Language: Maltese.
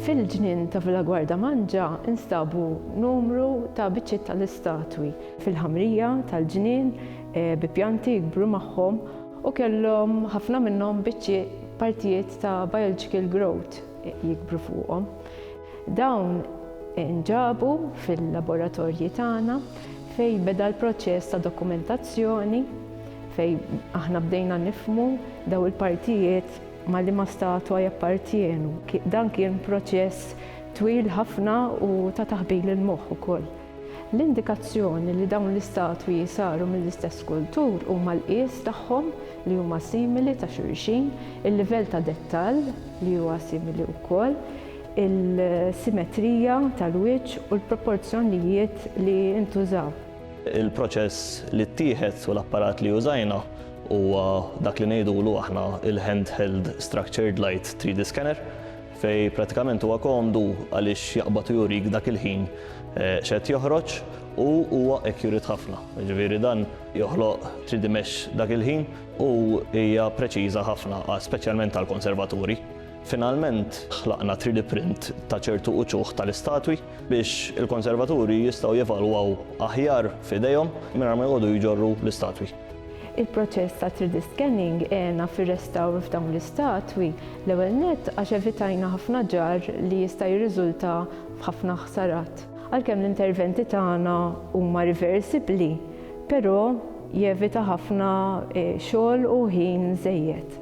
Fil-ġnien ta' Villa Guarda Mangia instabu numru ta' biċċiet tal-istatwi fil-ħamrija tal-ġnien eh, bi pjanti jikbru magħhom u kellhom ħafna minnhom biċċiet partijiet ta' biological growth jikbru fuqhom. Dawn inġabu fil-laboratorji tagħna fejn beda l-proċess ta' dokumentazzjoni fejn aħna bdejna nifhmu dawn il-partijiet ma' liema statwa jappartjenu. Dan kien proċess twil ħafna u ta' taħbil il-moħħ ukoll. L-indikazzjoni li dawn l-istatwi saru mill-istess skultur huma l-qies tagħhom li huma simili ta' xulxin, il-livell ta' dettall li huwa simili wkoll, il-simetrija tal-wiċċ u l-proporzjonijiet li ntużaw. Il-proċess li ttieħed u l-apparat li użajna huwa dak li ngħidulu aħna il-handheld structured light 3D scanner fejn prattikament huwa komdu għaliex jaqbad u jurik dak il-ħin x'qed joħroġ u huwa accurate ħafna. Jiġifieri dan joħloq 3D mesh dak il-ħin u hija preċiża ħafna speċjalment għall-konservaturi. Finalment, ħlaqna 3D print ta' ċertu uċuħ tal-istatwi biex il-konservaturi jistgħu jevalwaw aħjar f'idejhom mingħajr ma jqogħdu jġorru l-istatwi. Il-proċess ta' 3D scanning għena fir-restawr f'dawn l-istatwi, l-ewwel nett għax evitajna ħafna ġarr li jista' jirriżulta f'ħafna ħsarat. Għalkemm l-interventi tagħna huma riversibbli, però jevita ħafna xogħol u ħin żejjed.